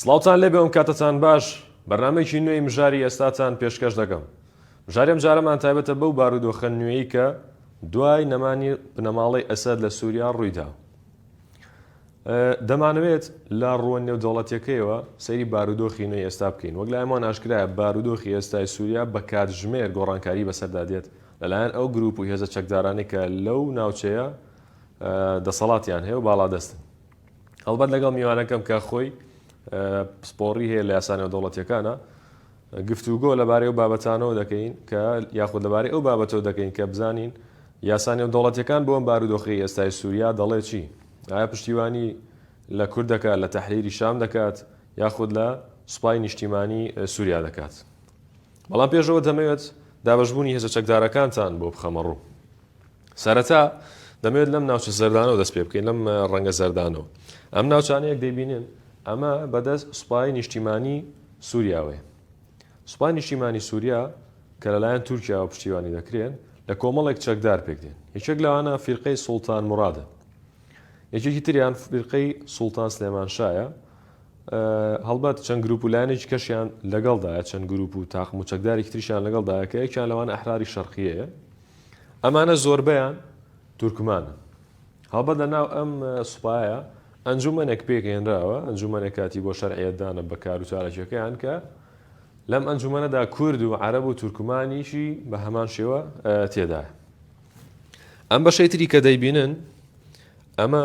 سڵاوتان لێبێ و کاتتان باش، بەرنامەیەکی نوێی مژاری ئێستاتان پێشکەش دەکەم. مژاری ئەمجارەمان تایبەتە بەو بارودۆخە نوێی کە دوای نەمانی بنەماڵەی ئەسەد لە سوریا ڕوویدا. دەمانەوێت لە ڕووە نێودەوڵەتیەکەیەوە سەیری بارودۆخی نوێی ئێستا بکەین. وەک لایمۆن ئاشکرایە بارودۆخی ئێستای سوریا بە کاتژمێر گۆڕانکاری بەسەردا دێت لەلایەن ئەو گروپ و هێزە چەکدارانەی کە لەو ناوچەیە دەسەڵاتیان هەیە و باڵادەستن. هەڵبەت لەگەڵ میوانەکەم کە خۆی پسپۆڕی هەیە لە یاسانەوە دەوڵەتەکانە گفتوگۆ لەبارەی و بابەتانەوە دەکەین کە یاخود لەبارەی ئەو بابەتەوە دەکەین کە بزانین یاسانی و دەوڵەتەکان بۆم بارودۆخی ئێستای سووریا دەڵێ چی ئایا پشتیوانی لە کورد دەکات لە تحریری شام دەکات یاخود لە سوپای نیشتیمانی سووریا دەکات بەڵام پێشەوە دەمەوێت دابشبوونی هێزە چەکدارەکانتان بۆ بخەمەڕوو سەرەتا دەمەوێت لەم ناوچە زەردانەوە دەست پێ بکەین لەم ڕەنگە زەردانەوە ئەم ناوچانەیەک دەبینن ئەمە بەدەست سوپای نیشتیمانی سووریاوێ سوپای نیشتیمانی سووریا کە لەلایەن تورکیاوە پشتیوانی دەکرێن لە کۆمەڵێک چەکدار پێکدێن یەکێک لەوانە فیرقەی سوڵتان مرادە یەکێکی تریان فیرقەی سوڵتان سلێمان شایە هەڵبەت چەند گروپ و لایەنێکی کەشیان لەگەڵدایە چەند گروپ و تاقم و چەکدارێکی تریشیان لەگەڵدایە کە یەکیان لەوان ئەحراری شەرقیەیە ئەمانە زۆربەیان تورکمانن. هەڵبەت لە ناو ئەم سوپایە ئەنجومەنێک پێکهێنراوە، ئەنجومەنێک کاتی بۆ شەرعیەتدانە بە کار و چالاکییەکەیان کە لەم ئەنجومەنەدا کورد و عەرەب و تورکمانیشی بە هەمان شێوە تێدایە. ئەم بەشەی تری کە دەیبینن ئەمە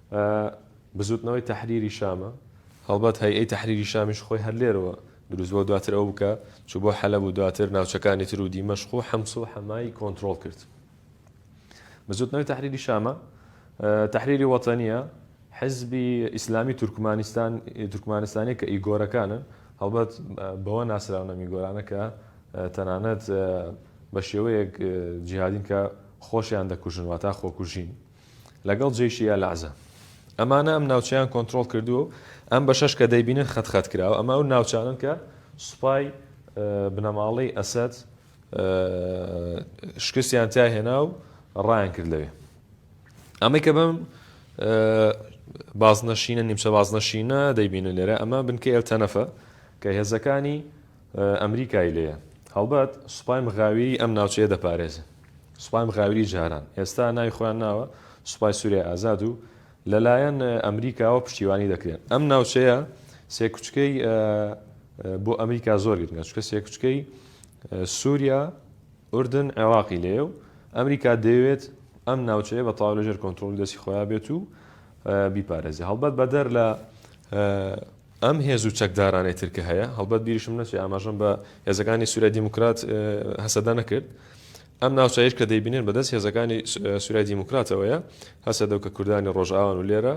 ئە بزوتنەوەی تەحریری شامە. هەڵبەت هەیئەی تەحریری شامیش خۆی هەر لێرەوە دروست بوە دواتر ئەو کە چو بۆ حەلەب و دواتر ناوچەکانی تر و دیمەشق و حمس و حەمای کۆنترۆڵ کرد. بزوتنەوەی تەحریری شامە تەحریری وەتەنیە حزبی ئیسلامی تورکمانستان تورکمانستانیە کە ئیگۆرەکانن هەڵبەت بەوە ناسراونە میگۆرانە کە تەنانەت بە شێوەیەک جیهادین کە خۆشیان دەکوژن واتا خۆکوژین. لەگەڵ جەیشی ئەلعەزە. ئەمانە ئەم ناوچەیان کۆنترۆڵ کردووە و ئەم بەشەش کە دەیبینن خەت خەت کراوە، ئەمە ئەو ناوچانەن کە سوپای بنەماڵەی ئەسەد شکستیان تیا هێنا و ڕایان کرد لەوێ. ئەمەی کە بەم بازنەشینە، نیمچە بازنەشینە دەیبینن لێرە، ئەمە بنکەی ئەلتەنەفە کە هێزەکانی ئەمریکای لێیە. هەڵبەت سوپای مغاویری ئەم ناوچەیە دەپارێزن. سوپای مغاویری جاران، ئێستا ناوی خۆیان ناوە سوپای سوریای ئازاد و لەلایەن ئەمریکاوە پشتیوانی دەکرێن. ئەم ناوچەیە سێکوچکەی بۆ ئەمریکا زۆر گرنگە، چونکە سێکوچکەی سوریا، ئوردن، عێراقی لێیە و ئەمریکا دەیەوێت ئەم ناوچەیە بە تەواو لەژێر کۆنترۆڵی دەستی خۆیان بێت و بیپارێزێت. هەڵبەت بەدەر لە. ئەم هێز و چەکدارانەی تر کە هەیە، هەڵبەت بیریشم نەچێ ئاماژەم بە هێزەکانی سوریای دیموکرات هەسەدە نەکرد، ئەم ناوچەیەش کە دەیبینن بە دەست هێزەکانی سوریای دیموکراتەوەیە، هەسەدە و کە کوردانی ڕۆژئاوان و لێرە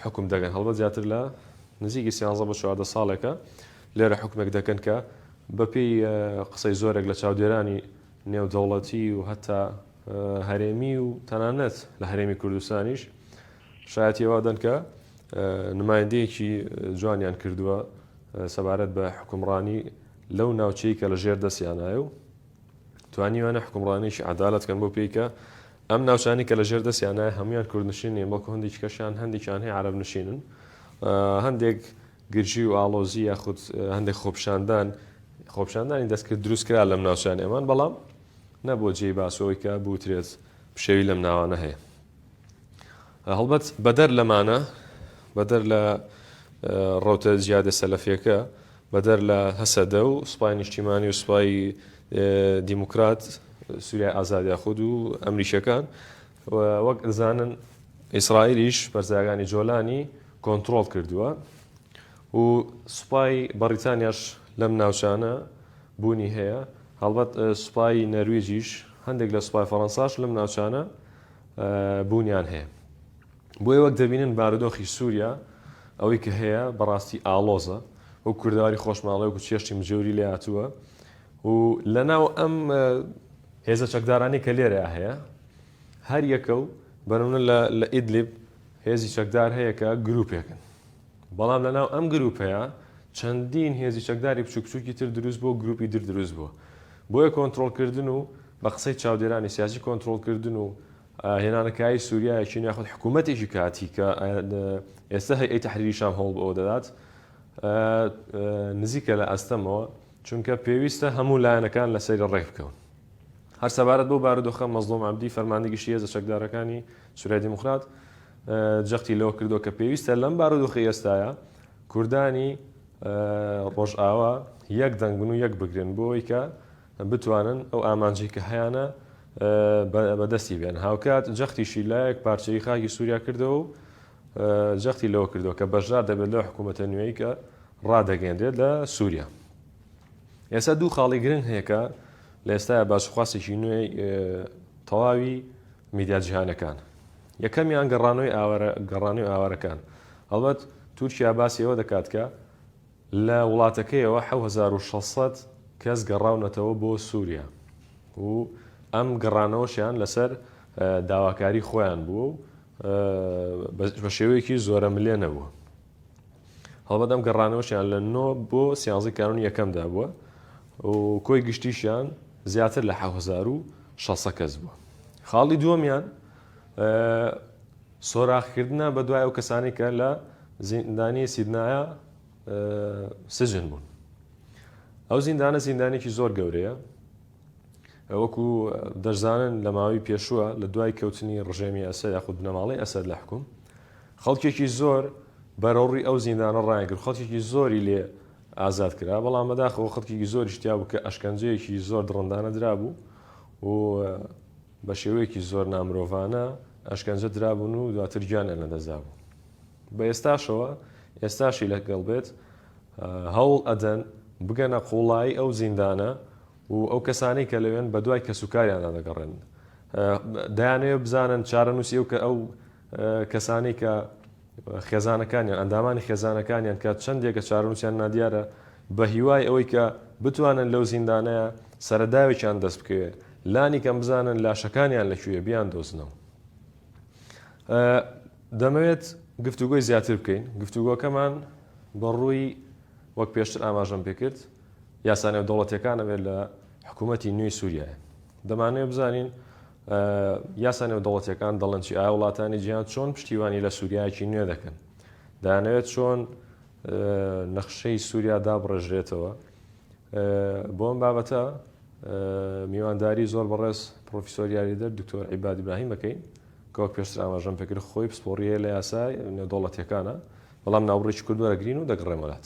حوکم دەگەن، هەڵبەت زیاتر لە نزیکی سیانزە بۆ چواردە ساڵێکە لێرە حوکمێک دەکەن کە بە پێی قسەی زۆرێک لە چاودێرانی نێودەوڵەتی و هەتا هەرێمی و تەنانەت لە هەرێمی کوردستانیش شایەتی ئەوە دەن کە نمایندەیەکی جوانیان کردووە سەبارەت بە حکومڕانی لەو ناوچەی کە لە ژێر دەستیانایە و توانیوانە حکومڕانێکی عدالت کەن بۆ پێیکە ئەم ناوچانی کە لە ژێر دەستیانایە هەمویان کوردنشین نیە بەڵکو هەندێکی کەشیان هەندێکیان هەیە عرب نشینن هەندێک گرژی و ئاڵۆزی یاخود هەندێک خۆپشاندان خۆپشاندانی دەستکرد دروستکرا لەم ناوچانی ئەمان بەڵام نەبوو جێی باسەوەی کە بوترێت پشێوی لەم ناوانە هەیە هەڵبەت بەدەر لەمانە، بەدەر لە ڕەوتە جیادە سەلەفیەکە، بەدەر لە هەسەدە و سوپای نیشتیمانی و سوپای دیموکرات، سوریای ئازاد یاخود و ئەمریکیەکان، وەک دەزانن ئیسرائیلیش پەرستگاکانی جۆلانی کۆنترۆڵ کردووە و سوپای بەڕیتانیاش لەم ناوچانە بوونی هەیە، هەڵبەت سوپای نەرویجیش، هەندێک لە سوپای فەرەنساش لەم ناوچانە بوونیان هەیە. بۆیە وەک دەبینن بارودۆخی سووریا ئەوەی کە هەیە بە ڕاستی ئاڵۆزە. وەک کوردەواری خۆشماڵێ وەکو چێشتی مجێوری لێ هاتووە و لە ناو ئەم. هێزە چەکدارانەی کە لێرەیا هەیە هەر یەکە و بە نموونە لە لە ئیدلیب هێزی چەکدار هەیە کە گرووپێکن. بەڵام لە ناو ئەم گرووپەیا چەندین هێزی چەکداری بچووک بچووکی تر درووست بووە و گرووپی در درووست بووە. بۆیە کۆنترۆڵ کردن و بە قسەی چاودێرانی سیاسی کۆنترۆڵکردن و هێنانەکایەی سوریایەکی نوێ یاخود حکوومەتێکی کاتی کە ئێستا هەیئەی تەحریری شام هەوڵ بەوە دەدات نزیکە لە ئەستەمەوە چونکە پێویستە هەموو لایەنەکان لە سەری ڕێک بکەون هەر سەبارەت بۆ بارودۆخە مەزلۆم عەبدی فەرماندی گشتی هێزە چەکدارەکانی سوریای دیموکرات جەختی لەوە کردو کە پێویستە لەم بارودۆخی ئێستایە کوردانی ڕۆژئاوا یەک دەنگبن و یەک بگرن بۆی کە بتوانن ئەو ئامانجەی کە هەیانە بە دەستی بێنن. هاوکات جەختیشی لە یەک پارچەیی خاکی سووریا کردەوە و جەختی لەوە کردەوە کە بەشدار دەبێت لەو حکوومەتە نوێی کە ڕادەگەیەنرێت لە سووریا. ئێستا دوو خاڵی گرنگ هەیە کە لە ئێستایا باسوخواسێکی نوێی تەواوی میدیا جیهانەکان. یەکەمیان گەڕانەوەی ئاوارە گەڕانەوەی ئاوارەکان. هەڵبەت تورکیا باسی ئەوە دەکات کە لە وڵاتەکەیەوە حەوت هەزار و شەش سەد کەس گەڕاونەتەوە بۆ سوریا و ئەم گەڕانەوەشیان لەسەر داواکاری خۆیان بووە و بە شێوەیەکی زۆرەملێ نەبووە. هەڵبەت ئەم گەڕانەوەشیان لە نۆ بۆ سیانزەی کانونی یەکەمدا بووە و کۆی گشتیشیان زیاتر لە حەوت هەزار و شەش سەد کەس بووە. خاڵی دووەمیان سۆراخکردنە بە دوای ئەو کەسانی کە لە زیندانی سیدنایە سجن بوون ئەو زیندانە زیندانێکی زۆر گەورەیە وەکو دەرزانن لە ماوەی پێشووە لە دوای کەوتنی ڕژێمی ئەسەر یاخود بنەماڵی ئەسەر لە حکوم خەڵکێکی زۆر بەرەوڕی ئەو زیندانە ڕایگر خەڵکێکی زۆری لێ ئازاد کرا بەڵام بەداخەوە خەڵکێکی زۆری شتیا بوو کە ئەشکەنجەیەکی زۆر دڕندانە درابوو و بە شێوەیەکی زۆر نامرۆڤانە ئەشکەنجە درابوون و دواتر گیانیان لەدەستدابوو. بە ئێستاشەوە، ئێستاشی لەگەڵ بێت، هەوڵ ئەدەن بگەنە قووڵایی ئەو زیندانە و ئەو کەسانەی کە لەوێن بە دوای کەسوکاریاندا دەگەڕێن. دەیانەوێت بزانن چارەنووسی ئەو کەسانەی کە. خێزانەکانیان، ئەندامانی خێزانەکانیان کە چەندێکە چارەنووسیان نادیارە، بە هیوای ئەوەی کە بتوانن لەو زیندانەیە سەرەداوێکیان دەست بکەوێت، لانی کەم بزانن لاشەکانیان لە کوێیە بیاندۆزنەوە. دەمەوێت گفتوگۆی زیاتر بکەین، گفتوگۆکەمان بە ڕووی وەک پێشتر ئاماژەم پێ کرد، یاسا نێودەوڵەتییەکانەوێت لە حکوومەتی نوێی سووریایە. دەمانەوێت بزانین یاسا نێودەوڵەتیەکان دەڵێن چی؟ ئایا وڵاتانی جیهان چۆن پشتیوانی لە سووریایەکی نوێ دەکەن؟ دەیانەوێت چۆن نەخشەی سووریا دابڕێژرێتەوە؟ بۆ ئەم بابەتە میوانداری زۆر بەڕێز پرۆفیسۆر یاریدەر دکتۆر عیباد ئیبراهیم بکەین کە وەک پێشتر ئاماژەم پێکرد خۆی پسپۆڕیە لە یاسای نێودەوڵەتیەکانە بەڵام ناوڕێکی کوردوەرەگرین و دەگڕێمەلات.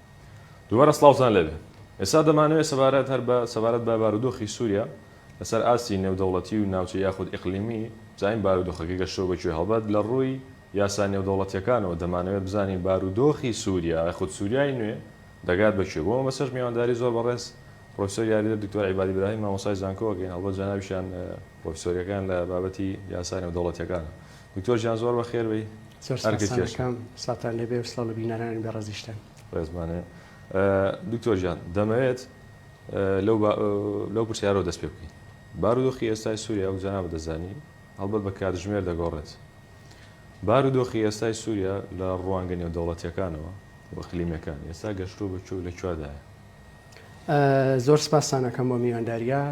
دووبارە سڵاوتان لێبێ. ئێستا دەمانەوێت سەبارەت هەر بە سەبارەت بە بارودۆخی سووریا لەسەر ئاستی نێودەوڵەتی و ناوچەیی یاخود ئیقلیمی بزانین بارودۆخەکە گەشتووە بە کوێ؟ هەڵبەت لە ڕووی یاسا نێودەوڵەتییەکانەوە دەمانەوێت بزانین بارودۆخی سووریا یاخود سووریای نوێ دەگات بە کوێ؟ بۆ مەبەستەش میوانداری زۆر بەڕێز پڕۆفیسۆر یاریدەر دکتۆر عیبادی براهیم مامۆستای زانکۆ ئەکەین هەڵبەت جەنابیشیان پرۆفیسۆریەکان لە بابەتی یاسا نێودەوڵەتیەکانە دکتۆر جیان زۆر بەخێر بێی ئەرکت کێشە. زۆر سوپاس کاکەم ساتان لێبێ و سڵاو لە بینەرانی بەڕێزیشتان. ڕێزمانێ دکتۆر جیان دەمەوێت لەو پرسیارەوە دەست پێ بکەین بارودۆخی ئێستای سوریا و جەنابت دەزانی هەڵبەت بە کاتژمێر دەگۆڕێت بارودۆخی ئێستای سوریا لە ڕوانگە نێودەوڵەتیەکانەوە و ئیقلیمیەکان ئێستا گەشتوە بە کوێ و لە کوێدایە؟ زۆر سپاستان ئەکەم بۆ میوانداریە.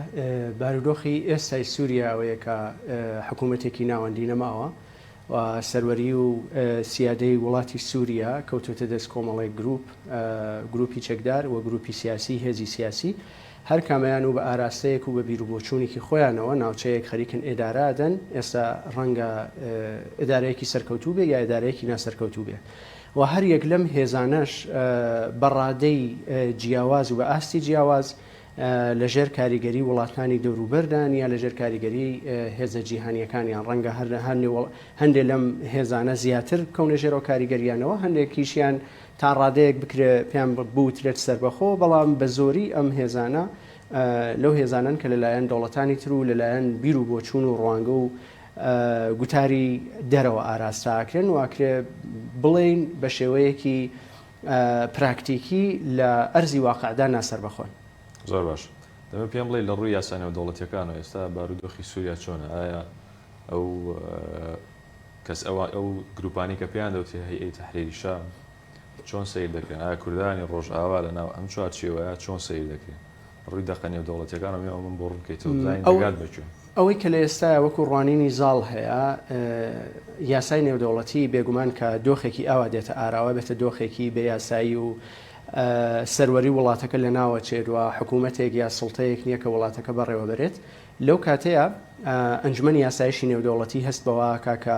بارودۆخی ئێستای سوریا ئەوەیە کە حکومەتێکی ناوەندی نەماوە و سەروەری و سیادەی وڵاتی سوریا کەوتۆتە دەست کۆمەڵێک گروپ، گروپی چەکدار و گروپی سیاسی، هێزی سیاسی هەر کامەیان و بە ئاراستەیەک و بە بیر و بۆچوونێکی خۆیانەوە ناوچەیەک خەریکن ئێدارە ئەدەن. ئێستا ڕەنگە ئێدارەیەکی سەرکەوتوو بێ یا ئێدارەیەکی ناسەرکەوتوو بێ. و هەر یەک لەم هێزانەش بە ڕادەی جیاواز و بە ئاستی جیاواز لە ژێر کاریگەری وڵاتانی دەوروبەردان یا لە ژێر کاریگەری هێزە جیهانیەکانیان ڕەنگە هەر هەندێ لەم هێزانە زیاتر بکەونە ژێرەوە کاریگەریانەوە هەندێکیشیان تا ڕادەیەک بکرێ پێیان بوترێت سەربەخۆ بەڵام بە زۆری ئەم هێزانە لەو هێزانن کە لەلایەن دەوڵەتانی تر و لەلایەن بیر و بۆچوون و ڕوانگە و گوتاری دەرەوە ئاراستە ئەکرێن و ئەکرێ بڵێین بە شێوەیەکی پراکتیکی لە ئەرزی واقعدا ناسەربەخۆن. زۆر باش. دەمە پێم بڵێی لە ڕووی یاسا نێودەوڵەتییەکانەوە ئێستا بارودۆخی سووریا چۆنە؟ ئایا ئەو کەس، ئەو گرووپانەی کە پێیان دەوترێ هەیئەی تەحریری شام، چۆن سەیر دەکرێن؟ ئایا کوردانی ڕۆژئاوا لە ناو ئەم چوارچێوەیە چۆن سەیر دەکرێن؟ ڕووی دەقە نێودەوڵەتییەکان و مێمەمون بۆ ڕوون کەیتەوە بزانین دەگات بە کوێ؟ ئەوەی کە لە ئێستایا وەکوو ڕوانینی زاڵ هەیە، یاسای نێودەوڵەتی بێ گومان کە دۆخێکی ئاوا دێتە ئاراوە، بێتە دۆخێکی بێ یاسایی و سەروەری وڵاتەکە لە ناوە چێت و حکوومەتێک یا سوڵتەیەک نییە کە وڵاتەکە بەڕێوە بەرێت. لەو کاتەیا ئەنجومەنی یاسایشی نێودەوڵەتی هەست بەوە ئەکا کە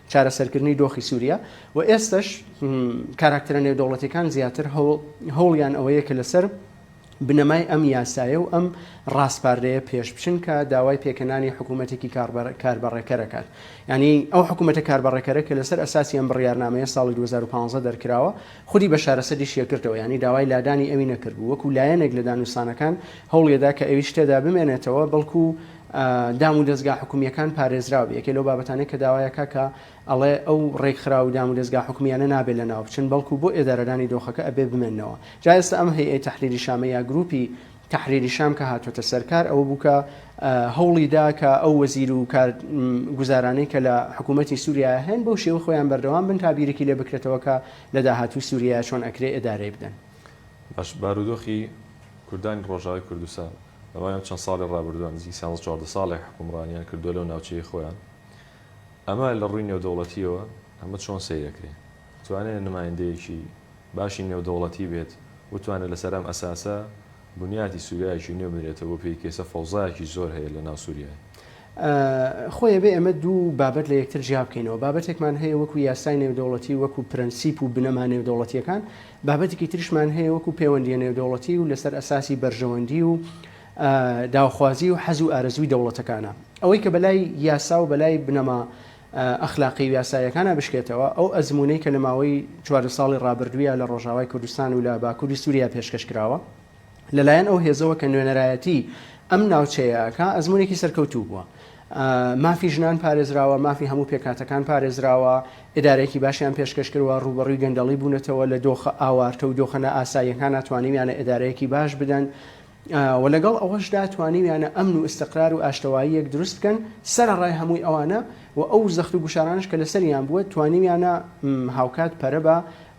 چارەسەرکردنی دۆخی سوریا و ئێستەش کاراکتەرە نێودەوڵەتیەکان زیاتر هەوڵیان ئەوەیە کە لەسەر بنەمای ئەم یاسایە و ئەم ڕاستپاردەیە پێش بچن کە داوای پێکەنانی حکوومەتێکی کاربەڕێکەرەکان ینی ئەو حکوومەتە کاربەڕێکەرە کە لەسەر ئەساسی ئەم بڕیارنامەیە ساڵی 2015 دەرکراوە خودی بە شارەسەری شێکردەوە ینی داوای لادانی ئەوی نەکردبوو وەکو لایەنێک لە دانوستانەکان هەوڵێدا کە ئەوی شتێدا بمێنێتەوە بەڵکو و دام و دەزگا حکومیەکان پارێزراوبێ یەکێ لەو بابەتانەی کە داوایەکا کە ئەڵێ ئەو ڕێکخراو و دام و دەزگا حکومیانە نابێ لەناو بچن بەڵکو بۆ ئێدارەدانی دۆخەکە ئەبێ بمێنەوە جا ئێستا ئەم هەیئەی تەحریری شامە یا گروپی تەحریری شام کە هاتۆتە سەر کار ئەوە بوو کە هەوڵی دا کە ئەو وەزیر و کار گوزارانەی کە لە حکوومەتی سووریا هەن بەو شێوە خۆیان بەردەوام بن تا بیرێکی لێ بکرێتەوە کە لە داهاتوو سووریا چۆن ئەکرێ ئێدارەی بدەن باش بارودۆخی کوردانی ڕۆژاوای کوردستان. دوای ئەم چەند ساڵی ڕابردووە، نزیک سیانزە چواردە ساڵێک حوکمڕانیان کردووە لەو ناوچەی خۆیان، ئەمە لە ڕووی نێودەوڵەتییەوە ئەمە چۆن سەیر ئەکرێ؟ ئەتوانێ نمایندەیەکی باشی نێودەوڵەتی بێت وتوانێ لەسەر ئەم ئەساسە بنیاتی سووریایەکی نوێ بنرێتەوە بۆ پێی کێسە فەوزایەکی زۆر هەیە لە ناو سووریای خۆ ئەبێ ئێمە دوو بابەت لە یەکتر جیا بکەینەوە. بابەتێکمان هەیە وەکوو یاسای نێودەوڵەتی و وەکوو پرەنسیپ و بنەما نێودەوڵەتییەکان، بابەتێکی تریشمان هەیە وەکوو پێوەندییە نێودەوڵەتی و لەسەر ئەساسی بەرژەوەندی و داوخوازی و حەز و ئارەزووی دەوڵەتەکانە. ئەوەی کە بەلای یاسا و بەلای بنەما ئەخلاقی و یاساییەکانا بشکێتەوە، ئەو ئەزموونەی کە لە ماوەی چواردە ساڵی ڕابردوویا لە ڕۆژاوای کوردستان و لە باکووری سووریا پێشکەش کراوە، لەلایەن ئەو هێزەوە کە نوێنەرایەتی ئەم ناوچەیەکە ئەزمونێکی سەرکەوتوو بووە. مافی ژنان پارێزراوە مافی هەموو پێکاتەکان پارێزراوە ئدارێکی باشیان پێشکەش کردوە ڕوبەڕووی گەندەڵی بوونەتەوە لە دۆخە ئاوارتە و دۆخەنە ئاساییەکان ناتوانیویانە ئدارەیەکی باش بدەن و لەگەڵ ئەوەشدا توانیویانە ئەمن و ئستقرار و ئاشتەواییەک دروست بکەن سەر ڕای هەمووی ئەوانە و ئەو زەخت و گوشارانش کە لەسەریان بووە توانیویانە هاوکات پەرە بە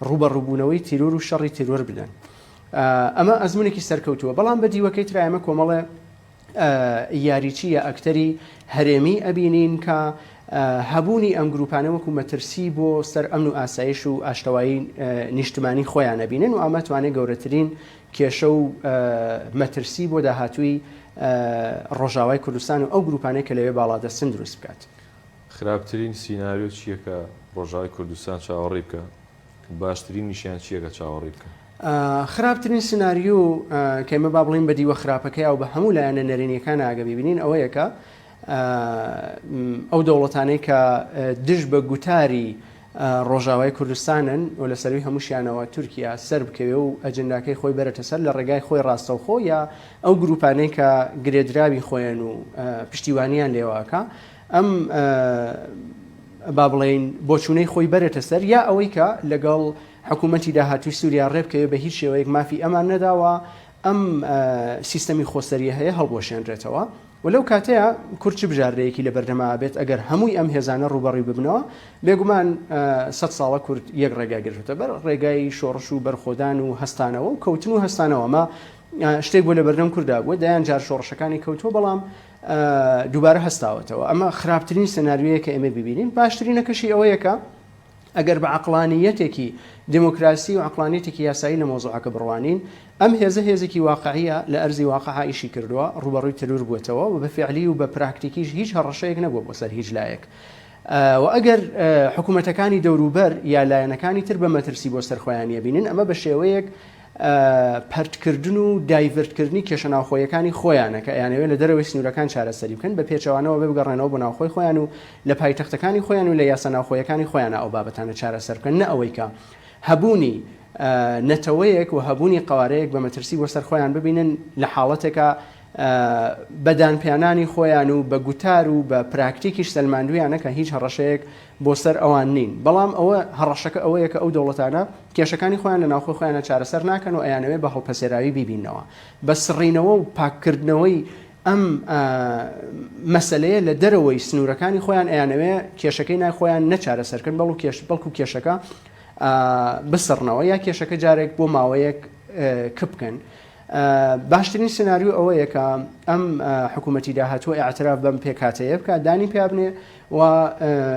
ڕوبەڕووبوونەوەی تیرۆر و شەڕی تیرۆر بدەن. ئەمە ئەزمونێکی سەرکەوتووە بەڵام بە دیوەکەی ترا ئێمە کۆمەڵێ یاریچی یا ئەکتەری هەرێمی ئەبینین کە هەبوونی ئەم گروپانە وەکو مەترسی بۆ سەر ئەمن و ئاسایش و ئاشتەوایی نیشتمانی خۆیان نەبینن و ئەمە توانێت گەورەترین کێشە و مەترسی بۆ داهاتووی ڕۆژاوای کوردستان و ئەو گروپانەی کە لەوێ باڵادەستن دروست بکات. خراپترین سیناریۆ چییە کە ڕۆژاوای کوردستان چاوەڕێی بکە؟ باشترینیشیان چیە کە چاوەڕی بکەن؟ خراپترین سناریو کە ئمە با بڵین بە دیوە خراپەکەی و بە هەموو لایەنە نەرێنیەکان ئاگە ببینین ئەوەیە کە ئەو دەوڵەتانەی کە دژ بە گوتاری ڕۆژاوای کوردستانن و لە سەروی هەمووشیانەوە تورکیا سەر بکەوێ و ئەجنداکەی خۆی بەرەتە سەر لە ڕێگای خۆی ڕاستەوخۆ یا ئەو گروپانەی کە گرێدراوی خۆیان و پشتیوانیان لێواکە ئەم با بڵێین بۆچوونەی خۆی بەرێتە سەر یا ئەوەی کە لەگەڵ حکوومەتی داهاتووی سووریا ڕێبکەوێ بە هیچ شێوەیەک مافی ئەمان نەداوە ئەم سیستەمی خۆسەریە هەیە هەڵبوەشێنرێتەوە و لەو کاتەیە کورد چ بژاردەیەکی لە بەردەما بێت ئەگەر هەمووی ئەم هێزانە ڕوبەڕی ببنەوە بێگومان سە ساڵە کورد یەک ڕێگای گرتە بەر ڕێگای شۆڕش و بەرخۆدان و هەستانەوە و کەوتن و هەستانەوە مە شتێک بۆ لە بەردەم کووردا بووە دەیان جار شۆڕشەکانی کەوتووە بەڵام دووبارە هەستاوەتەوە، ئەمە خراپترین سناریۆیە کە ئێمە بیبینین، باشترینەکەشی ئەوەیە کە ئەگەر بە عەقڵانییەتێکی دێمۆکراسی و عەقڵانییەتێکی یاسایی لە مەوزوعەکە بڕوانین، ئەم هێزە هێزێکی واقعییە، لە ئەرزی واقع ئیشی کردووە، ڕووبەڕووی تەرور بووەتەوە و بە فیعلی و بە پراکتیکیش هیچ هەڕەشەیەک نەبووە بۆ سەر هیچ لایەک و ئەگەر حکوومەتەکانی دەوروبەر یا لایەنەکانی تر بە مەترسی بۆ سەر خۆیان یەبینن، ئەمە بە شێوەیەک پەرتکردن و دایڤرتکردنی کێشە ناوخۆییەکانی خۆیانە کە ئەیانەوێت لە دەرەوەی سنوورەکان چارەسەری بکەن، بە پێچەوانەوە ئەبێ بگەڕێنەوە بۆ ناوخۆی خۆیان و لە پایتەختەکانی خۆیان و لە یاسا ناوخۆییەکانی خۆیانا ئەو بابەتانە چارەسەر بکەن نە ئەوەی کە هەبوونی نەتەوەیەک و هەبوونی قەوارەیەک بە مەترسی بۆ سەر خۆیان ببینن لە حاڵەتێکا بە دانپیانانی خۆیان و بە گوتار و بە پراکتیکیش سەلماندوویانە کە هیچ هەڕەشەیەک بۆ سەر ئەوان نین، بەڵام ئەوە هەڕەشەکە ئەوەیە کە ئەو دەوڵەتانە کێشەکانی خۆیان لە ناوخۆی خۆیانە چارەسەر ناکەن و ئەیانەوێت بە هەڵپەسێراوی بیبیننەوە. بە سڕینەوە و پاککردنەوەی ئەم مەسەلەیە لە دەرەوەی سنوورەکانی خۆیان ئەیانەوێ کێشەکەی نای خۆیان نە چارەسەر کەن بەڵکو کێش بەڵکو کێشەکە بسڕنەوە یا کێشەکە جارێک بۆ ماوەیەک کپ بکەن. باشترین سناریو ئەوەیە کە ئەم حکوومەتی داهاتووە ئاعتراف بەم پێکهاتەیە بکە دانی پیابنێ و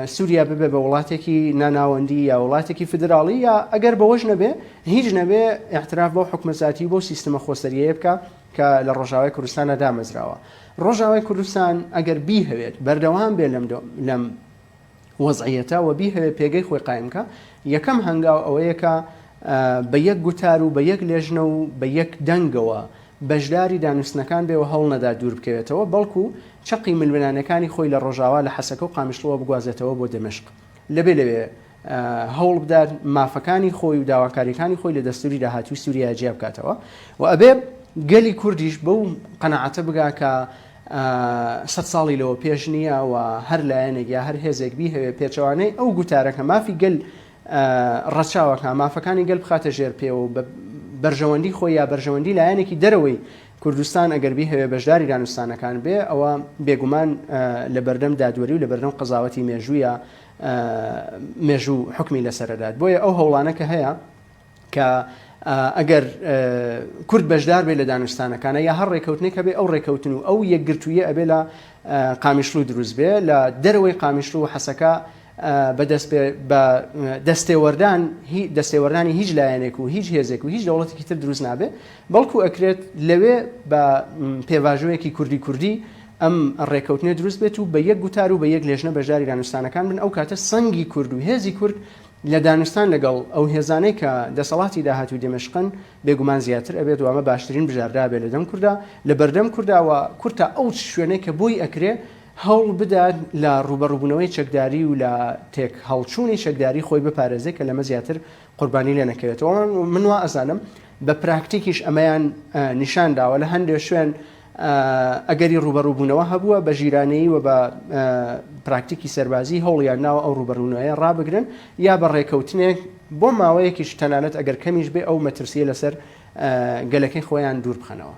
سوریا ببێ بە وڵاتێکی ناناوەندی یا وڵاتێکی فیدراڵی یا ئەگەر بەوەش نەبێ هیچ نەبێ ئیعتراف بەو حکومە زاتی و بەو سیستمە خۆسەریەیە بکا کە لە ڕۆژاوای کوردستانە دامەزراوە ڕۆژاوای کوردستان ئەگەر بیهەوێت بەردەوام بێ لەم لەم وەزعیەتە و بیهەوێ پێگەی خۆی قایمکە یەکەم هەنگاو ئەوەیەکە بە یەک گوتار و بە یەک لێژنە و بە یەک دەنگەوە بەشداری دانوستنەکان بێ و هەوڵنەدا دوور بکەوێتەوە، بەڵکو چەقی ململانێکانی خۆی لە ڕۆژاوا لە حەسەکە و قامیشڵۆوە بگوازێتەوە بۆ دەمشق. لەبێ لەوێ هەوڵ بدات مافەکانی خۆی و داواکاریەکانی خۆی لە دەستوری داهاتووی سوریایا جیا بکاتەوە و ئەبێ گەلی کوردیش بەو قەناعەتە بگا کە سەد ساڵی لەوە پێش نییە و هەر لایەنێک یا هەر هێزێک بیهەوێ پێچەوانەی ئەو گوتارە کە مافی گەل ڕەچاوەکە مافەکانی گەل بخاتە ژێر پێ و بە بەرژەوەندی خۆی یا بەرژەوەندی لایەنێکی دەرەوەی کوردستان ئەگەر بیهەوێ بەشداری دانوستانەکان بێ ئەوە بێگومان لەبەردەم دادوەری و لەبەردەم قەزاوەتی مێژوویە مێژوو حکمی لەسەرەدات بۆیە ئەو هەوڵانە کە هەیە کە ئەگەر کورد بەشدار بێ لە دانوستانەکانە یا هەر ڕێککەوتنێک هەبێ ئەو ڕێککەوتن و ئەو یەکگرتوویە ئەبێ لە قامیشلو دروست بێ لە دەرەوەی قامیشلو حەسەکە بە دەستێوەردان هی دەستێوەردانی هیچ لایەنێک و هیچ هێزێک و هیچ دەوڵەتێکی تر دروست نابێ بەڵکو ئەکرێت لەوێ بە پێواژۆیەکی کوردی کوردی ئەم ڕێکەوتنێ دروست بێت و بە یەک گوتار و بە یەک لێژنە بەشداری دانوستانەکان بن ئەو کاتە سەنگی کورد و هێزی کورد لە دانوستان لەگەڵ ئەو هێزانەی کە دەسەڵاتی داهات و دێمەشقن بێگومان زیاتر ئەبێت وامە باشترین بژاردابێ لە دەم کووردا لە بەردەم کوورداوە کورتا ئەو شوێنێک کە بۆی ئەکرێ هەوڵ بدات لە ڕووبەڕووبوونەوەی چەکداری و لە تێکهەڵچوونی چەکداری خۆی بپارێزێت کە لەمە زیاتر قوربانی لێ نەکەوێتەوە. من وا ئەزانم بە پراکتیکیش ئەمەیان نیشان داوە لە هەندێک شوێن ئەگەری ڕووبەڕووبوونەوە هەبووە بە ژیرانەیی و بە پراکتیکی سەربازی هەوڵیان ناوە ئەو ڕووبەڕوونەوەیە ڕابگرن یا بە ڕێکەوتنێک بۆ ماوەیەکیش تەنانەت ئەگەر کەمیش بێ ئەو مەترسیە لەسەر گەلەکەی خۆیان دوور بخەنەوە.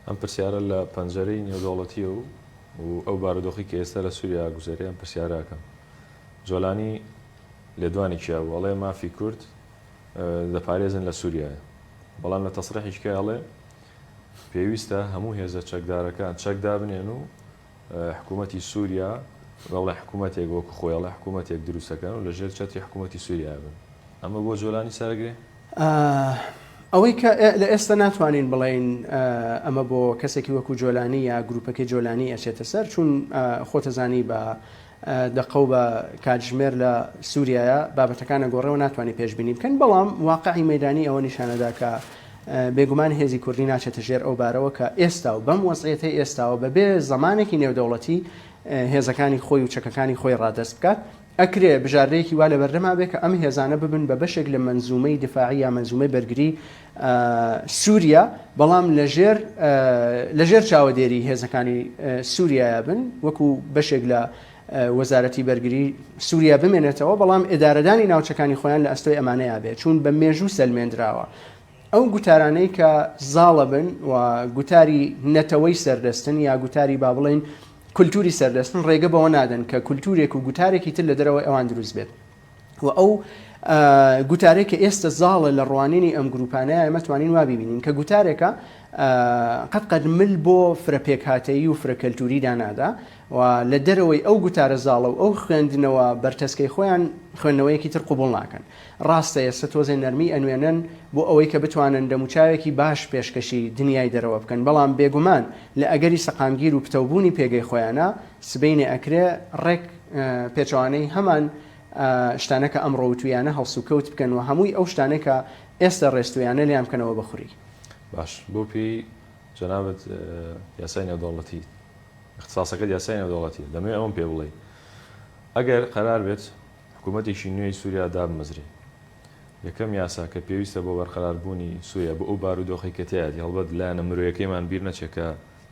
ئەم پرسیارە لە پەنجەرەی نێودەوڵەتییە و ئەو بارودۆخی کە ئێستا لە سووریا ئاگوزەرێ ئەم پرسیارە ئەکەم. جۆلانی لێدوانی کیا بوو؟ ئەڵێ مافی کورد دەپارێزن لە سووریایە. بەڵام لە تەسریحی کای ئەڵێ پێویستە هەموو هێزە چەکدارەکان چەک دابنێن و حکوومەتی سووریا بەڵێ حکوومەتێک وەکوو خۆی ئەڵێ حکوومەتێک دروست دەکەن و لەژێر چەتری حکوومەتی سووریایە بن. ئەمە بۆ جۆلانی سەرەگرێ؟ ئەوەی کە لە ئێستە ناتوانین بڵێین ئەمە بۆ کەسێکی وەکوو جۆلانی یا گرووپەکەی جۆلانی ئەچێتە سەر چوون خۆتەزانی بە دەقە و بە کاتژمێر لە سووریایە بابەتەکان ئەگۆڕێ و ناتوانێ پێشبینی بکەین، بەڵام واقعی مەیدانی ئەوە نیشانەدا کە بێگومان هێزی کوردی ناچێتە ژێر ئەو بارەوە کە ئێستا و بەم وەزعیەتەی ئێستاوە بەبێ زەمانێکی نێودەوڵەتی هێزەکانی خۆی و چەکەکانی خۆی ڕادەست بکات، ئەکرێ بژاردەیەکی وا لەبەردەما بێ کە ئەم هێزانە ببن بە بەشێک لە مەنزوومەی دفاعی یا مەنزوومەی بەرگری سوریا، بەڵام لەژێر لەژێر چاوەدێری هێزەکانی سوریایە بن، وەکو بەشێک لە وەزارەتی بەرگری سوریا بمێنێتەوە، بەڵام ئێدارەدانی ناوچەکانی خۆیان لە ئەستۆی ئەمانەیا بێ، چوون بە مێژوو سەلمێندراوە. ئەو گوتارانەی کە زاڵە بن و گوتاری نەتەوەی سەردەستن یا گوتاری با بڵێین کولتوری سەردەستن، ڕێگە بەوە نادەن کە کولتورێک و گوتارێکی تر لە دەرەوەی ئەوان دروست بێت. و ئەو گوتارەی کە ئێستە زاڵە لە ڕوانینی ئەم گروپانە ئێمە توانین وا بیبینین کە گوتارێکە قەت قەت مل بۆ فرە پێکهاتەیی و فرە کەلتوری دانادا و لە دەرەوەی ئەو گوتارە زاڵە و ئەو خوێندنەوە بەرتەسکەی خۆیان خوێندنەوەیەکی تر قوبڵ ناکەن ڕاستە ئێستا تۆزێ نەرمی ئەنوێنن بۆ ئەوەی کە بتوانن دەموچاوێکی باش پێشکەشی دنیای دەرەوە بکەن بەڵام بێگومان لە ئەگەری سەقامگیر و پتەوبوونی پێگەی خۆیانە سبینێ ئەکرێ ڕێک پێچەوانەی هەمان شتانە کە ئەمڕۆ وتویانە هەڵسوکەوت بکەن و هەمووی ئەو شتانە کە ئێستا ڕێستویانە لێیان بکەنەوە بە خوری. باش بۆ پێی جەنابت یاسای نێودەوڵەتی اختصاصەکەت یاسای نێودەوڵەتیە دەمەوێت ئەوم پێ بڵێی ئەگەر قەرار بێت حکوومەتێکی نوێی سووریا دابمەزرێ یەکەم یاسا کە پێویستە بۆ بەرقەراربوونی سووریا بۆ ئەو بارودۆخی کە تیایەتی هەڵبەت لایەنە مرۆیەکەیمان بیر نەچێت کە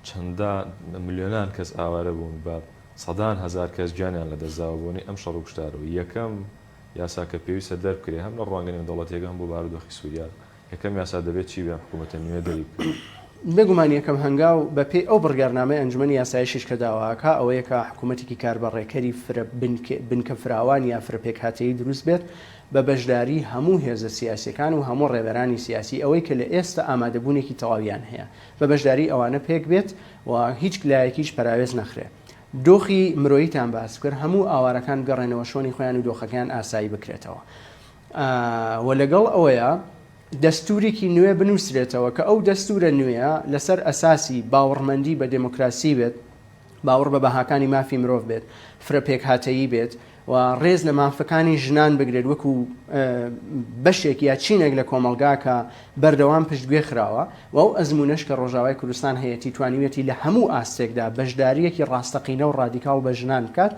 چەندان ملیۆنان کەس ئاوارە بوون بە سەدان هەزار کەس گیانیان لەدەستداوە بۆنەی ئەم شەڕو کوشتارەوە یەکەم یاسا کە پێویستە دەربکرێت هەم لە ڕوانگە نێودەوڵەتیەکە هەم بۆ بارودۆخی سوریا یەکەم یاسا دەبێت چی بێ ئەم حکومەتە نوێ دەری بکەوێت. بێگومان یەکەم هەنگاو بە پێی ئەو بڕیارنامەی ئەنجومەنی یاسایشیش کە داواکا ئەوەیە کە حکومەتێکی کاربە ڕێکەری فرە بنکە فراوان یا فرە پێکهاتەیی دروست بێت بە بەشداری هەموو هێزە سیاسیەکان و هەموو ڕێبەرانی سیاسی ئەوەی کە لە ئێستا ئامادەبوونێکی تەواویان هەیە بە بەشداری ئەوانە پێک بێت و هیچ لایەکیش پەراوێز نەخرێ دۆخی مرۆییتان باس بکەر هەموو ئاوارەکان بگەڕێنەوە شۆنی خۆیان و دۆخەکەیان ئاسایی بکرێتەوە و لەگەڵ ئەوەیە دەستوریکی نوێ بنووسرێتەوە کە ئەو دەستورە نوێە لەسەر ئەساسی باوەڕمەندی بە دموکراسی بێت باوەڕ بە بەهاکانی مافی مرۆڤ بێت، فرە پێکهاتەیی بێت و ڕێز لە مافەکانی ژنان بگرێت وەکو بەشێک یا چینێک لە کۆمەڵگا کە بەردەوام پشتگوێ خراوە و ئەو ئەزموونەش کە ڕۆژاوای کوردستان هەیەتی توانیویەتی لە هەموو ئاستێکدا بەشدارییەکی ڕاستەقینە و ڕادیکاڵ بە ژنان بکات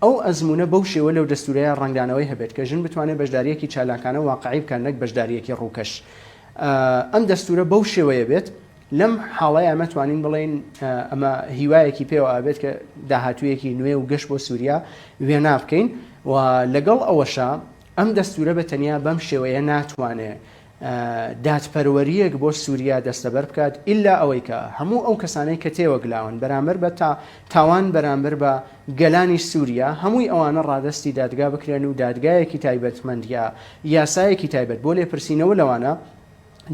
ئەو ئەزموونە بەو شێوە لەو دەستوورەیە ڕەنگدانەوەی هەبێت کە ژن بتوانێت بەشدارییەکی چالاکانە واقعی بکات نەک بەشدارییەکی ڕووکەش ئەم دەستوورە بەو شێوەیە بێت لەم حاڵەیا مەتوانین بڵێین ئەمە هیوایەکی پێوە ئابێت کە داهاتوویەکی نوێ و گەشت بۆ سووریا وێنا بکەین و لەگەڵ ئەوەشە ئەم دەستورە بە تەنیا بەم شێوەیە ناتوانێ دادپەروەریەک بۆ سووریا دەستەبەر بکات ئللا ئەوەی کە هەموو ئەو کەسانەی کە تێوەگلاون بەرامبەر بە تا تاوان بەرامبەر بە گەلانی سووریا هەمووی ئەوانە ڕادستی دادگا بکرێن و دادگایەکی تایبەتمەندە یاسایەکی تایبەت بۆ لێپرسینەوە لەوانە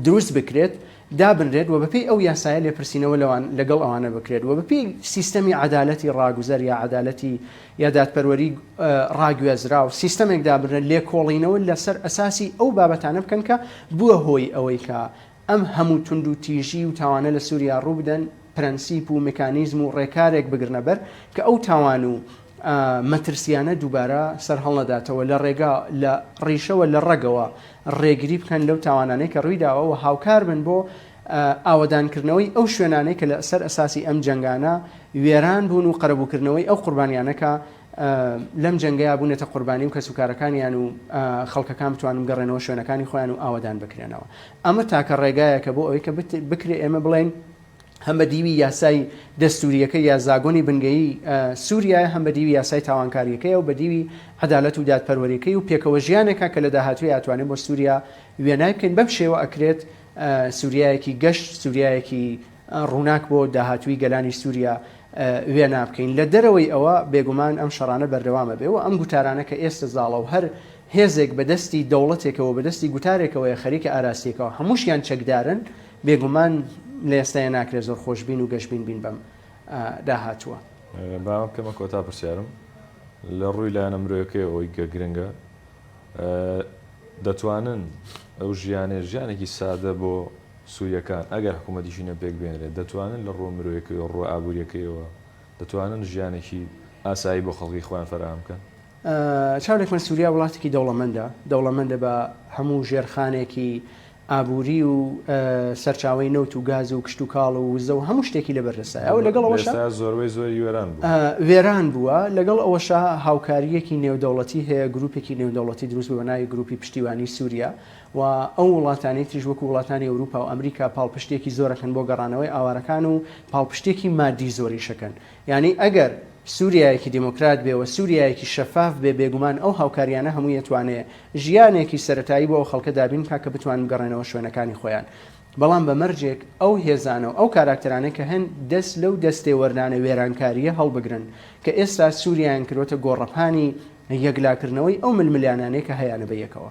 دروست بکرێت، دابنرێت و بەپێی ئەو یاسایە لێپرسینەوە لەوان لەگەڵ ئەوانە بکرێت و بەپێی سیستەمی عەدالەتی ڕاگوزەر یا عەدالەتی یا دادپەروەری ڕاگوێزراو سیستەمێک دابنرێت لێکۆڵینەوە لەسەر ئەساسی ئەو بابەتانە بکەن کە بووە هۆی ئەوەی کە ئەم هەموو توندوتیژی و تاوانە لە سووریا ڕووبدەن. پرەنسیپ و مکانیزم و ڕێکارێک بگرنە بەر کە ئەو تاوان و مەترسییانە دووبارە سەرهەڵنەداتەوە، لە ڕێگا، لە ڕیشەوە، لە ڕەگەوە ڕێگری بکەن لەو تاوانانەی کە ڕوویداوە و هاوکار بن بۆ ئاوەدانکردنەوەی ئەو شوێنانەی کە لە سەر ئەساسی ئەم جەنگانە وێران بوون و قەرەبووکردنەوەی ئەو قوربانییانە کە لەم جەنگەیا بونەتە قوربانی و کەسوکارەکانیان و خەڵکەکان بتوان بگەڕێنەوە شوێنەکانی خۆیان و ئاوەدان بکرێنەوە ئەمە تاکە ڕێگایەکە بۆ ئەوەی کە بکرێ ئێمە بڵێن هەم بە دیوی یاسای دەستوریەکە یا زاگۆنی بنگەیی سووریا هەم بە دیوی یاسای تاوانکاریەکەی و بە دیوی عدالەت و دادپەروەریەکەی و پێکەوە ژیانێکە کە لە داهاتوی ئەتوانێت بۆ سووریا وێنای بکەین بەم شێوە ئەکرێت سووریایەکی گەشت سووریایەکی ڕووناک بۆ داهاتووی گەلانی سووریا وێنا بکەین. لە دەرەوەی ئەوە، بێگومان ئەم شەڕانە بەردەوام ئەبێ و ئەم گوتارانە کە ئێستە زاڵە و هەر هێزێک بە دەستی دەوڵەتێکەوە، بە دەستی گوتارێکەوەیە خەریکە ئاراستەیەکەوە، هەمووشیان چەکدارن، بێگومان لە ئێستایا ناکرێ زۆر خۆشبین و گەشبین بین بەم داهاتووە. با ئەمە بکەمە کۆتا پرسیارم. لە ڕووی لایەنە مرۆیەکەیەوە ئەوەی کە گرنگە، دەتوانن ئەو ژیانەی، ژیانێکی سادە بۆ سورییەکان ئەگەر حکوومەتی شینە پێک بهێنرێت، دەتوانن لە ڕووە مرۆیەکەیەوە و ڕووە ئابوورییەکەیەوە، دەتوانن ژیانێکی ئاسایی بۆ خەڵکی خۆیان فەراهەم بکەن. چاولێکمان سوریا وڵاتێکی دەوڵەمەندە، دەوڵەمەندە بە هەموو ژێرخانێکی ئابووری و سەرچاوەی نەوت و گاز و کشتوکاڵ و وزە و هەموو شتێکی لە بەردەستایە و لەگەڵ ئەوەشا، ئێستا زۆربەی زۆری وێران بووە. وێران بووە، لەگەڵ ئەوەشا هاوکارییەکی نێودەوڵەتی هەیە، گرووپێکی نێودەوڵەتی دروست بووە بە ناوی گرووپی پشتیوانیی سوریا و ئەو وڵاتانەی تریش وەکو وڵاتانی ئەوروپا و ئەمریکا پاڵپشتیەکی زۆرەکەن بۆ گەڕانەوەی ئاوارەکان و پاڵپشتیەکی مادی زۆریشەکەن یانی ئەگەر سوریایەکی دیموکرات بێ و سوریایەکی شەفاف بێ بێگومان ئەو هاوکاریانە هەموی ئەتوانێ ژیانێکی سەرەتایی بۆ ئەو خەڵکە دابین بکا کە بتوانن بگەڕێنەوە شوێنەکانی خۆیان بەڵام بە مەرجێک ئەو هێزانە و ئەو کاراکتەرانەی کە هەن دەست لەو دەستێ وەردانە وێرانکاریە هەڵبگرن کە ئێستا سوریایان کردوەتە گۆڕەپانی یەکلاکردنەوەی ئەو ململیانانەی کە هەیانە بە یەکەوە.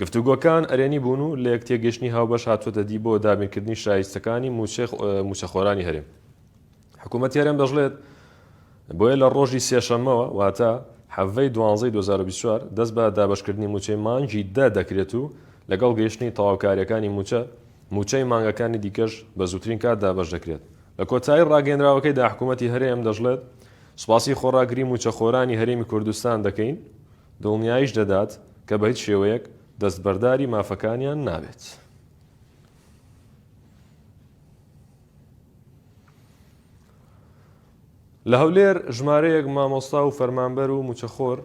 گفتوگۆکان ئەرێنی بوون و لە یەک تێگەیشتنی هاوبەش هاتووەتە دی بۆ دابینکردنی شایستەکانی مووچەی مووچەخۆرانی هەرێم. حکوومەتی هەرێم دەشڵێت، بۆیە لە ڕۆژی سێشەممەوە واتە حەڤەی دوانزەی دوو هەزار و بیست و چوار دەست بە دابەشکردنی مووچەی مانگی دە دەکرێت و لەگەڵ گەیشتنی تەواوکارییەکانی مووچە، مووچەی مانگەکانی دیکەش بە زووترین کات دابەش دەکرێت. لە کۆتایی ڕاگەیەندراوەکەیدا حکوومەتی هەرێم دەشڵێت، سوپاسی خۆڕاگری مووچەخۆرانی هەرێمی کوردستان دەکەین، دڵنیاییش دەدات کە بە هیچ شێوەیەک دەستبەرداری مافەکانیان نابێت. لە هەولێر ژمارەیەک مامۆستا و فەرمانبەر و مووچەخۆر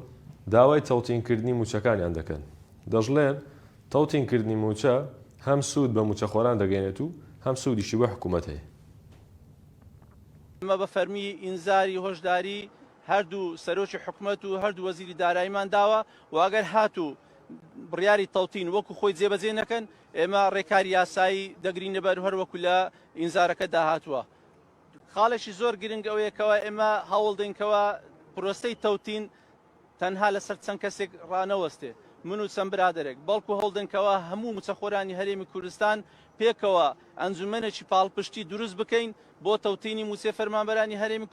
داوای تەوتینکردنی مووچەکانیان دەکەن، دەشڵێن، تەوتینکردنی مووچە هەم سوود بە مووچەخۆران دەگەیەنێت و هەم سوودیشی بۆ حکوومەت هەیە. ئەمە بە فەرمی ئینزاری هۆشداری هەردوو سەرۆکی حکومەت و هەردوو وەزیری داراییمان داوە و ئەگەر هاتوو بڕیاری تەوتین وەکو خۆی جێبەجێ نەکەن، ئێمە رێکاری یاسایی دەگرینەبەر هەر وەکو لە ئینزارەکەدا هاتووە. خاڵێکی زۆر گرنگ ئەوەیە کەوا ئێمە هەوڵدەین کەوا پرۆسەی تەوتین تەنها لەسەر چەند کەسێک رانەوەستێ، من و چەند برادەرێک، بەڵکو هەوڵدەین کەوا هەموو مچەخۆرانی هەرێمی کوردستان پێکەوە ئەنجومەنێکی پاڵپشتی دروست بکەین بۆ تەوتینی موچەی فەرمانبەرانی هەرێمی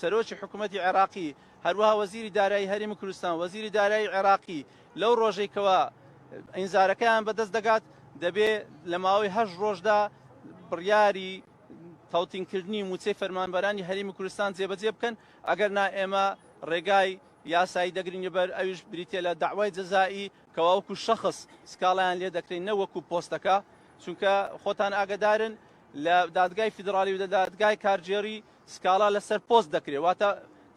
سەرۆکی حکومەتی عێراقی، هەروەها وەزیری دارایی هەرێمی کوردستان، وەزیری دارایی عێراقی لەو ڕۆژەی کەوا ئینزارەکەیان بەدەست دەگات دەبێ لە ماوەی هەشت ڕۆژدا بڕیاری تەوتینکردنی مووچەی فەرمانبەرانی هەرێمی کوردستان جێبەجێ بکەن ئەگەر نا ئێمە ڕێگای یاسایی دەگرین بەر ئەویش بریتە لە داوای جەزایی کەوا وەکو شەخص سکاڵیان لێ دەکرێن نە وەکو پۆستەکە چونکە خۆتان ئاگدارن لە دادگای فیدراڵی و لە دادگای کارگێڕی سکاڵا لەسەر پۆست دەکرێت، واتە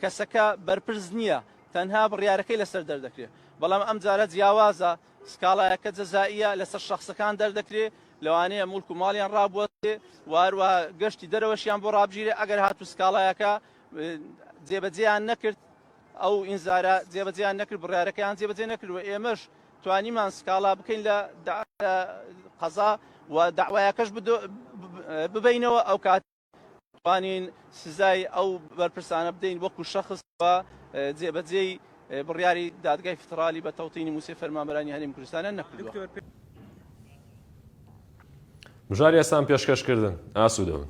کەسەکە بەرپرس نییە، تەنها بڕیارەکەی لەسەر دەردەکرێت، بەڵام ئەمجارە جیاوازە، سکاڵایەکە جەزائییە، لەسەر شەخسەکان دەردەکرێت، لەوانەیە موڵک و ماڵیان ڕابوەستێت و هەروەها گەشتی دەرەوەشیان بۆ ڕابگیرێت، ئەگەر هاتوو سکاڵایەکە جێبەجێیان نەکرد، ئەو ئینزارە جێبەجێیان نەکرد، بڕیارەکەیان جێبەجێ نەکرد و ئێمەش توانیمان سکاڵا بکەین لە قەزا و دەعوایەکەش ببەینەوە، ئەوکاتە. توانین سزای ئەو بەرپرسانە بدەین وەکو شخص و جێبەجێی بڕیاری دادگای فیترالی بە تەوتینی موسێ فەرمانبەرانی هەرێم کوردستانیان نەکردوە. بژار یاسام پێشکەش کردن ئاسوودەبن.